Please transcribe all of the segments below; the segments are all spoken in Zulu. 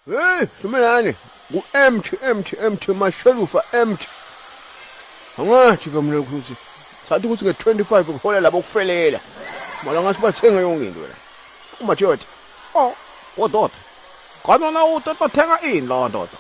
Hey, sumelani. Ngu empty empty empty mashelufa empty. Angathi ke mina ukuthi sathi ukuthi nge-25 kuhola labo kufelela. Mala ngathi bathenge yonke into la. Uma jodi. Oh, kodwa. Kodwa na utata thenga ini lo ndoda?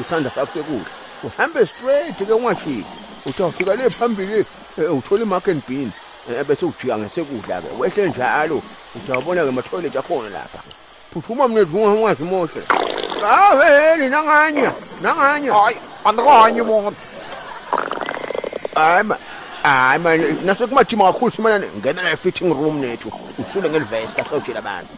uthanda kakuse kudla uhambe straight ke ungajiki uthi awufika le phambili eh, uthole imark and bean eh, bese ujika ngesekudla ke wehle njalo uthi awubona ke mathoilet akhona lapha phuthuma mnethu ungawazi moshe aweheli nanganye nanganye hayi andikanye mona hayi ma hayi manje nasekumathima kakhulu simane ngena la fitting room nethu usule ngelivesta sawutshela abantu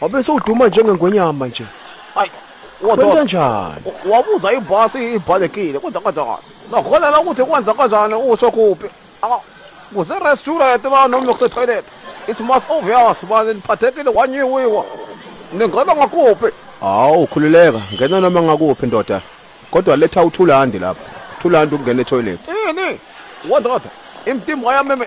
Wabe sewuduma njengengwenyama nje. Ay. Kwenza njani? Wabuza ibhasi ibhalekile kwenza kanjani? Nokholala ukuthi kwenza kanjani usho kuphi? Aka kuze restaurant ba noma kuse toilet. It's most obvious manje niphathekile wanyiwiwa. Ningena ngakuphi? Hawu khululeka ngena noma ngakuphi ndoda. Kodwa letha uthulandi lapha. Thulandi ukungena etoilet. Ini? Wandoda. Imtimba yami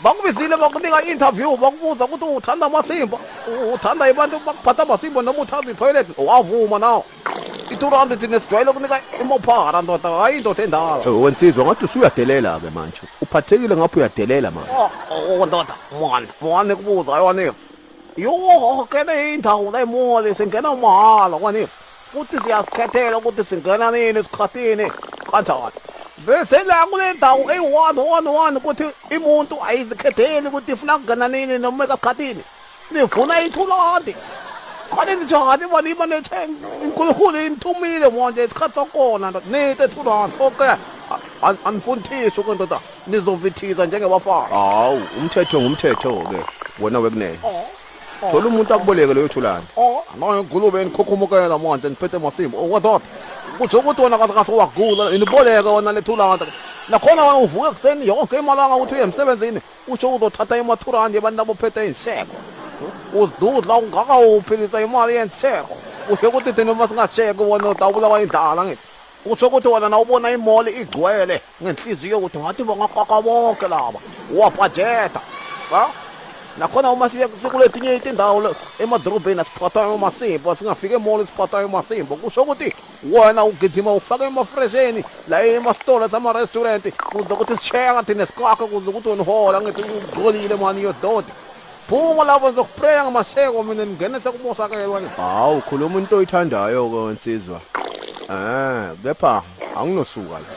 bakubizile bakunika i-interview bakubuza ukuthi uthanda amasimba uthanda abantu bakuphatha amasimba noma uthanda itoilet wavuma nawo i-two rand thina sijwayele ukunika imophara ndoda hhayi indoda endala Eh, wensizwa ngathi usuyadelela-ke manje uphathekile ngapho uyadelela manje Oh, oh, ndoda mwana mwana kubuza yona if yoke le indawo lemole singena mahhala kwanif futhi siyazikhethela ukuthi singena nini esikhathini kanjani bese la kule ndawo eyi-one one one ukuthi imuntu ayizikhetheli ukuthi ifuna kungena nini noma ekasikhathini nifuna ithulonti khona nijani bona iba nethe inkulunkulu inithumile manje isikhathi sakhona ndoda nite ethulonti okay anifundisi ke ndoda nizovithiza njengebafana hawu umthetho ngumthetho-ke wena wekunene oh. thola umuntu akuboleke leyo thulane nayo ngulube enikhukhumukela manje niphethe masimba owadoda kusho ukuthi wona kahle kahle wagula iniboleke wona lethulane nakhona wena uvuke ekuseni yonke imalanga ukuthi uye emsebenzini usho uzothatha imathurandi abantu abophethe iy'nseko uzidudla ungaka uphilisa imali yenseko usho ukuthi thina uma singasheki wona utawubulawa indlala ngithi Kusho ukuthi wena nawubona imall igcwele ngenhliziyo ukuthi ngathi bangaqaqa bonke laba. Wabhajetha. Ha? Nakhona uma siye sikuletinye itindawo emadorobheni asiphathayo umasimbo singafika emall isiphathayo umasimbo kusho ukuthi wena ugijima ufake emafresheni la emasitolo sama-restaurant kuze ukuthi sisheka thina sikhakhe kuze ukuthi wena uhola ngithi ugcolile mani yododi phuma lapho ngizokupreya ngamasheko mina ningene sekumosakelwa ni hawu khuluma into oyithandayo ke nsizwa eh kepha anginosuka la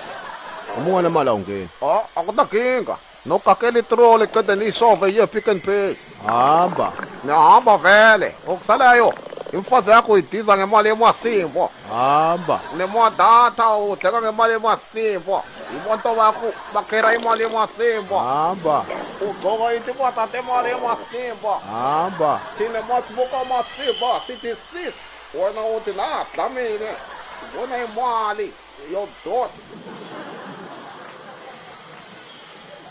uma unganamali awungeni oh akunakinga nokakela itrole qede niyisove iye pick and pay hamba nihamba vele okusalayo imfazi yakho idiza ngemali yemasimbo hamba nemodatha udleka ngemali yemas Sipho, imoto wakho bakhera imali emasimba. Hamba. Ugcoka into ibathatha imali emasimba. Hamba. Thina masibuka amasimba sithi sis wena uthi la dlamile. Ubona imali yodoti.